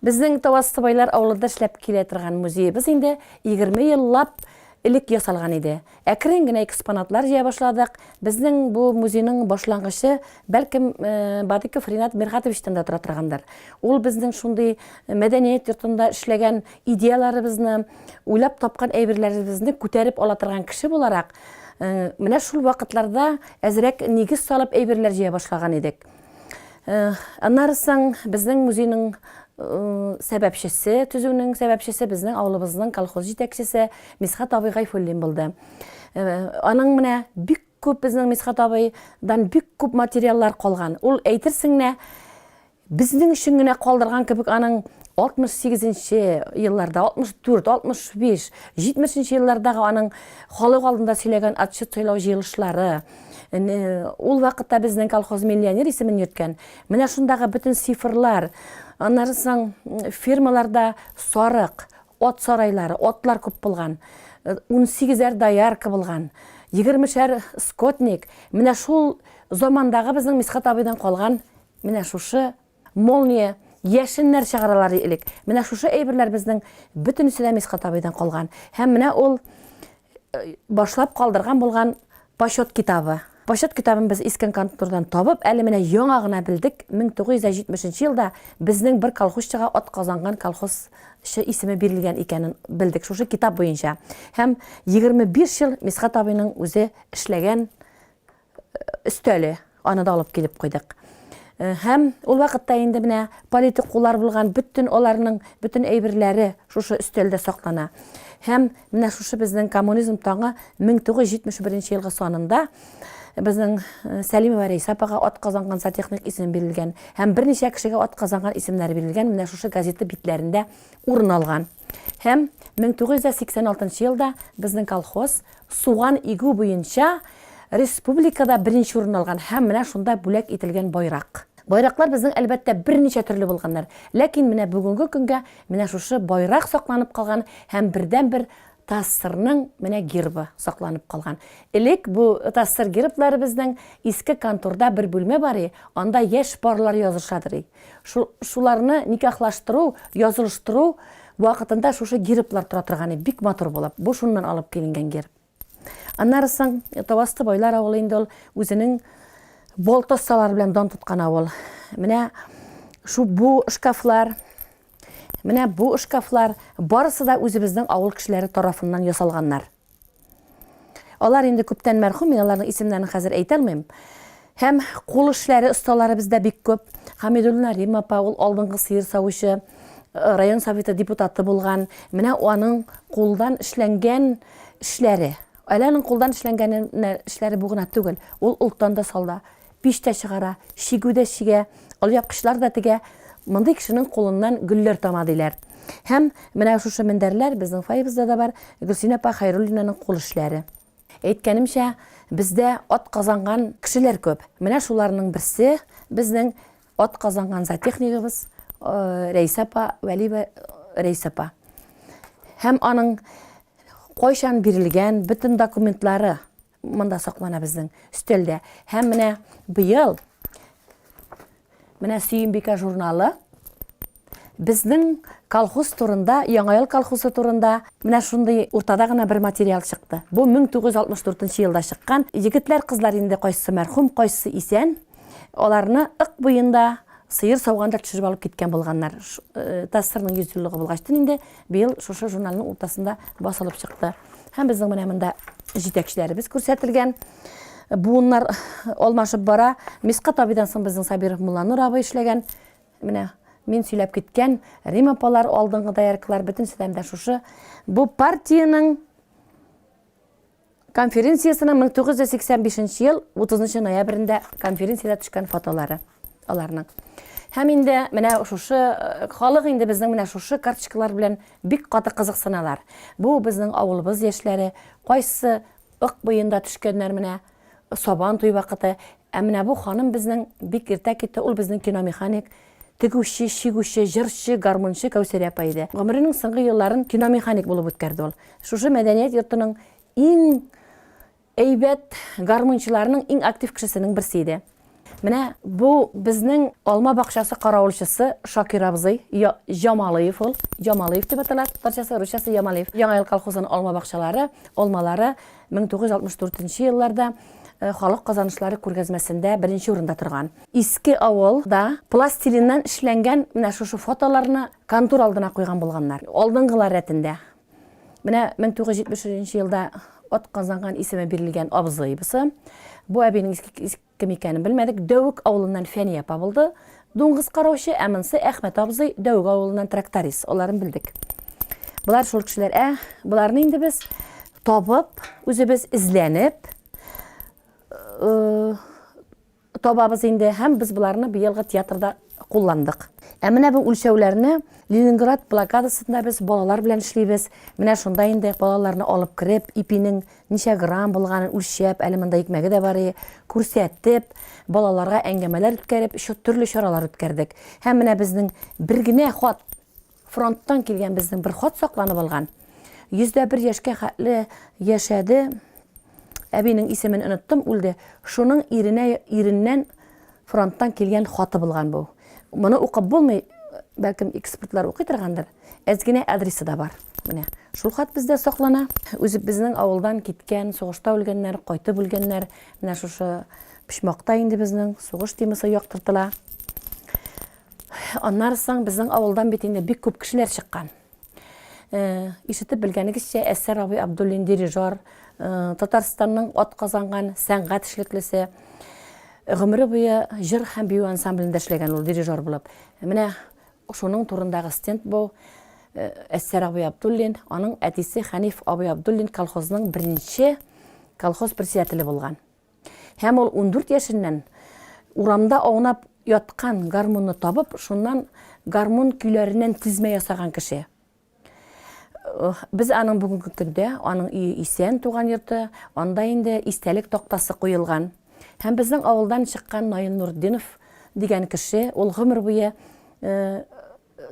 Безнең Тавазсыбайлар авылында эшләп килә торган музеебыз инде егерме ел лап элек ясалган иде. Әкрен генә экспонатлар җыя башладык. Безнең бу музейның башлангычы, бәлкем, Бадыков Ринат Миргатовичтан да тора торгандыр. Ул безнең шундый мәдәният йортында эшләгән идеяларыбызны, уйлап тапкан әйберләребезне күтәреп ала торган кеше буларак, менә шул вакытларда әзрәк нигез салып әйберләр җыя башлаган идек. Аннары соң безнең музейның сәбәпчесе, төзүнең сәбәпчесе безнең авылыбызның колхоз җитәкчесе Мисхат абый Гайфуллин булды. Аның менә бик күп безнең Мисхат абыйдан бик күп материаллар калган. Ул әйтерсең генә безнең өчен генә калдырган кебек аның 68 нче елларда, 64, 65, 70 нче еллардагы аның халык алдында сөйләгән отчет сөйләү җыелышлары, Ул вакытта безнең колхоз миллионер исемен йөрткән. Менә шундагы бөтен цифрлар, аннары соң фермаларда сарык, от сарайлары, отлар күп булган. 18-әр доярка булган. 20-шәр скотник. Менә шул замандагы безнең Мисхат абыйдан калган менә шушы молния яшеннәр чыгаралар элек. Менә шушы әйберләр безнең бөтенесе дә Мисхат абыйдан калган. Һәм менә ул башлап калдырган булган почет китабы. Почет китабын без искен контордан табып, әле менә яңа гына белдек, 1970 нче елда безнең бер колхозчыга атказанган колхозчы исеме бирелгән икәнен белдек шушы китап буенча. Һәм 25 ел Мисхәт абыйның үзе эшләгән өстәле, аны да алып килеп куйдык. Һәм ул вакытта инде менә политукулар булган, бөтен аларның бөтен әйберләре шушы өстәлдә саклана. Һәм менә шушы безнең коммунизм таңы 1971 елгы санында безнең Сәлимова Рәйсә апага атказанган зоотехник исеме бирелгән һәм берничә кешегә атказанган исемнәре бирелгән менә шушы газета битләрендә урын алган. Һәм 1986 елда безнең колхоз Суган игү буенча республикада беренче урынны алган һәм менә шунда бүләк ителгән байрак. Байраклар безнең, әлбәттә, берничә төрле булганнар, ләкин менә бүгенге көнгә менә шушы байрак сакланып калган һәм бердәнбер ТАССРның менә гербы сакланып калган. Элек бу ТАССР герблары безнең иске конторда бер бүлмә бар и, анда яшь парлар язышадыр и. Шу, шуларны никахлаштыру, язылыштыру вакытында шушы герблар тора торганы бик матур булып, бу шуннан алып киленгән герб. Аннары соң Тавасты байлар авылы инде ул үзенең болтоссалары белән дан тоткан авыл. Менә шу бу шкафлар, менә бу шкафлар барысы да үзебезнең авыл кешеләре тарафыннан ясалганнар. Алар инде күптән мәрхүм, мин аларның исемнәрен хәзер әйтә алмыйм. Һәм кул эшләре осталары бездә бик күп. Хамидуллина Рим апа, ул алдынгы сыер савучы, район советы депутаты булган. Менә аның кулдан эшләнгән эшләре. Әле аның кулдан эшләнгәне эшләре бу гына түгел. Ул олтан да салда. Пич тә чыгара, чигү дә чигә, алъяпкычлар да тегә. Мондый кешенең кулыннан гөлләр тама, диләр. Һәм менә шушы мендәрләр безнең фойебызда да бар, Гөлсинә апа Хәйруллинаның кул эшләре. Әйткәнемчә, бездә атказанган кешеләр күп. Менә шуларның берсе, безнең атказанган зоотехнигыбыз Рәйсә апа, Вәлиева Рәйсә апа. Һәм аның кайчан бирелгән бөтен документлары Монда саклана безнең өстәлдә. Һәм менә быел менә Сөембикә журналы безнең колхоз турында, Яңа ел колхозы турында менә шундый уртада гына бер материал чыкты. Бу 1964 елда чыккан. Егетләр, кызлар инде кайсы мәрхүм, кайсы исән, аларны ык буенда сыер сауганда төшереп алып киткән булганнар. Э, ТАССРның 100 еллыгы булгачтын инде Быел шушы журналның уртасында басылып чыкты. Һәм безнең менә монда җитәкчеләребез күрсәтелгән. Буыннар алмашып бара. Миска табидан соң безнең Сабиров Мулланур абый эшләгән. Менә мин сөйләп киткән Рим апалар, алдынгы дояркалар, бөтенесе дә шушы. Бу партиянең Конференциясенең 1985 нче ел 30 нчы ноябрендә конференциядә төшкән фотолары аларның. Һәм инде менә шушы э, халык инде безнең менә шушы карточкалар белән бик каты кызыксыналар. Бу безнең авылыбыз яшьләре, кайсы ык буенда төшкәннәр менә Сабан туй вакыты. Ә менә бу ханым безнең бик иртә китте, ул безнең киномеханик Тегүче, чигүче, җырчы, гармунчы Кәүсәрия апа иде. Гомеренең соңгы елларын киномеханик булып үткәрде ул. Шушы мәдәният йортының иң әйбәт гармунчыларының иң актив кешесенең берсе иде. Менә бу безнең алма бакчасы каравылчысы Шакир абзый, Я, Ямалыев ул, Ямалыев дип атала татарчасы, русчасы Ямалиев. Яңа ел колхозының алма бакчалары, алмалары 1964 нче елларда халык казанышлары күргәзмәсендә беренче урында торган. Иске авыл да пластилиннан эшләнгән менә шушы фотоларны контур алдына куйган булганнар. Алдынгылар рәтендә менә 1973 нче елда атказанган исеме бирелгән абзыйбысы. Бу әбинең иске Кем икәнен белмәдек, Дәвек авылыннан Фәния апа булды, дуңгыз караучы, ә монсы Әхмәт абзый, Дәвек авылыннан тракторист, аларын белдек. Болар шул кешеләр, ә боларны инде без табып, үзебез эзләнеп, э, табабыз инде һәм без боларны быелгы театрда кулландык. Ә менә бу үлчәүләрне Ленинград блокадасында без балалар белән эшлибез. Менә шунда инде балаларны алып кереп, ипинең ничә грамм булганын үлчәп, әле монда икмәге дә бар, күрсәтеп, балаларга әңгәмәләр үткәреп, төрле чаралар үткәрдек. Һәм менә безнең бер генә хат, фронттан килгән безнең бер хат сакланып алган. Йөздә бер яшькә хәтле яшәде, әбинең исемен оныттым, үлде. Шуның иренә, иреннән фронттан килгән хаты булган бу. Моны укып булмый, бәлкем экспертлар укый торгандыр. Әз генә адресы да бар. Менә шул хат бездә саклана. Үзе безнең авылдан киткән, сугышта үлгәннәр, кайтып үлгәннәр. Менә шушы почмакта инде безнең сугыш темасы яктыртыла. Аннары соң безнең авылдан бит инде бик күп кешеләр чыккан. Ишетеп белгәнегезчә, Әсәр абый Абдуллин дирижер, Татарстанның атказанган сәнгать эшлеклесе. Гомере буе җыр һәм бию ансамблендә эшләгән ул дирижер булып. Менә шуның турындагы стенд бу. Әсәр абый Абдуллин, аның әтисе Хәниф абый Абдуллин колхозның беренче колхоз председателе булган. Һәм ул ундүрт яшеннән урамда аунап яткан гармунны табып, шуннан гармун көйләреннән тезмә ясаган кеше. Без аның бүгенге көндә, аның өе исән, туган йорты, анда инде истәлек тактасы куелган. Һәм безнең авылдан чыккан Наил Нуртдинов дигән кеше, ул гомер буе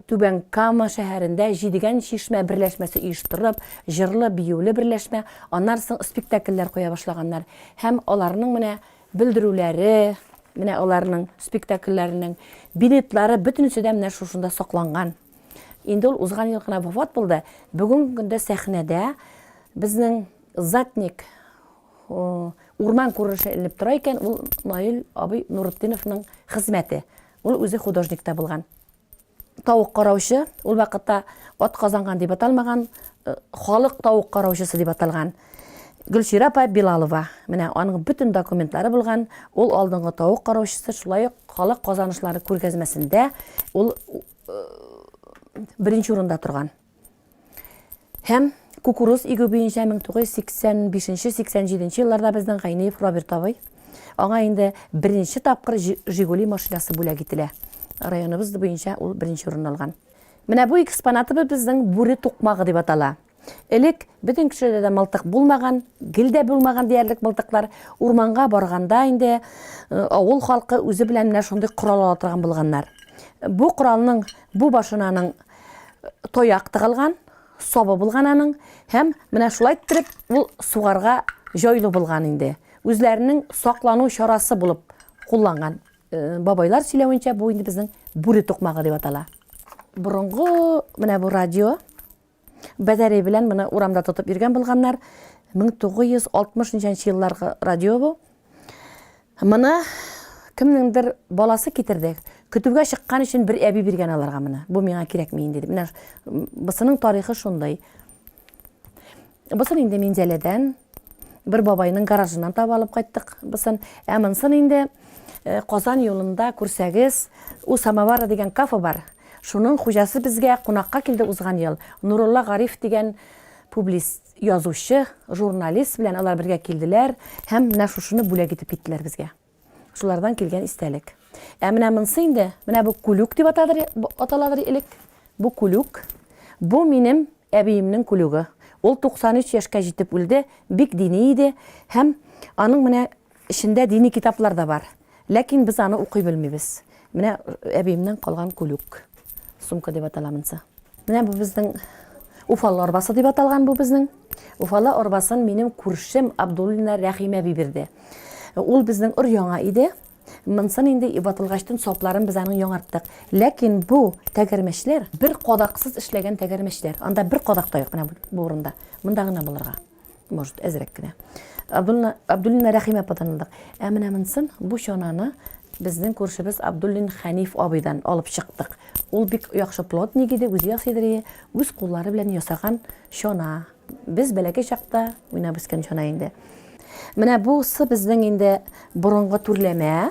Түбән Кама шәһәрендә Җидегән чишмә берләшмәсе оештырып, җырлы-биюле берләшмә, аннары соң спектакльләр куя башлаганнар. Һәм аларның менә белдерүләре, менә аларның спектакльләренең билетлары бөтенесе дә менә шушында сакланган. Инде ул узган ел гына вафат булды. Бүгенге көндә сәхнәдә безнең Затник Урман күренеше эленеп тора икән, ул Наил абый Нуретдиновның хезмәте. Ул үзе художник та булган. Тавык караучы, ул вакытта ат казанган дип аталмаган, халык тавык караучысы дип аталган. Гөлчирә апа Билалова, менә аның бөтен документлары булган, ул алдынгы тавык караучысы, шулай ук халык казанышлары күргәзмәсендә ул беренче урында торган. Һәм кукуруз игү буенча 1985-87 елларда безнең Гайниев Роберт абый, аңа инде беренче тапкыр Жигули машинасы бүләк ителә. Районыбыз буенча ул беренче урын алган. Менә бу экспонатыбыз безнең бүре тукмагы дип атала. Элек бөтен кешеләрдә дә мылтык булмаган, гел дә булмаган диярлек мылтыклар. Урманга барганда инде э, авыл халкы үзе белән менә шундый корал ала торган булганнар. Бу коралның бу башынаның Тояк тыгылган, сабы булган аның һәм менә шулай иттереп ул сугарга җайлы булган инде. Үзләренең саклану чарасы булып кулланган. Э, бабайлар сөйләвенчә, бу инде безнең бүре тукмагы дип атала. Борынгы менә бу радио бәдәре белән моны урамда тотып йөргән булганнар. 1960 елларгы радио бу. Моны кемнеңдер баласы китерде. Көтүгә чыккан өчен бер әби биргән аларга моны. Бу миңа кирәкми инде дип. Менә бысының тарихы шундый. Бысын инде Минзәләдән бер бабайның гаражыннан таба алып кайттык бысын. Ә монсын инде э, Казан юлында күрсәгез, у самовара дигән кафе бар. Шуның хуҗасы безгә кунакка килде узган ел. Нурулла Гариф дигән публист Язучы, журналист белән алар бергә килделәр һәм менә шушыны бүләк итеп киттеләр безгә. Шулардан килгән истәлек. Ә менә монсы инде, менә бу күлүк дип атадыр, аталадыр элек. Бу күлүк. Бу минем әбиемнең күлүге. Ул 93 яшькә җитеп үлде, бик дини иде һәм аның менә Эчендә дини китаплар да бар. Ләкин без аны укый белмибез. Менә әбиемнән калган күлүк. Сумка дип атала монсы. Менә бу безнең Уфалы арбасы дип аталган бу безнең. Уфалы арбасын минем күршем Абдуллина Рәхимә би бирде. Ул безнең өр яңа иде. Монсын инде ватылгачтын сапларын без аның яңарттык. Ләкин бу тәгәрмәчләр бер кадаксыз эшләгән тәгәрмәчләр. Анда бер кадак та юк менә бу урында. Монда гына булырга. может, әзрәк кенә. Абдуллина Рәхимә ападан алдык. Ә менә монсын, бу чананы безнең күршебез Абдуллин Хәниф абыйдан алып чыктык. Ул бик яхшы плотник иде, үзе ясый иде, үз куллары белән ясаган чана. Без бәләкәй чакта уйнап үскән чана инде. Менә бусы безнең инде борынгы түрләмә.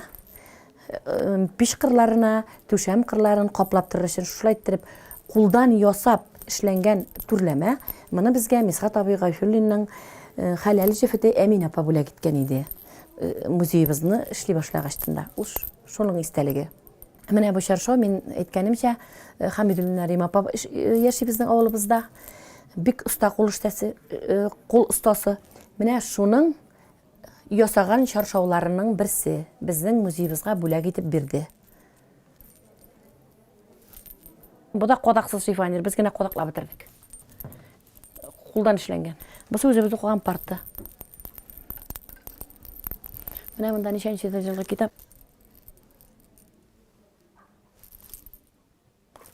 Пич кырларына, түшәм кырларын каплап торыр өчен шулай иттереп кулдан ясап эшләнгән түрләмә. Моны безгә Мисхат абый Гайфуллинның хәләл җефете Әминә апа бүләк иткән иде. Музеебызны эшли башлагач тында. Ул шуның истәлеге. Менә бу чаршау, мин әйткәнемчә, Хамидуллина Рим апа яши безнең авылыбызда. Бик оста кул эштәсе, кул остасы. Менә шуның ясаган чаршауларының берсе безнең музеебызга бүләк итеп бирде. Бу да кадаксыз сувенир, без генә кадаклап бетердек. Кулдан эшләнгән. Бусы үзебез укыган парты. Менә монда ничәнче җылгы китап.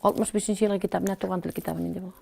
65 нче елгы китап, менә туган тел китабы нинди булган.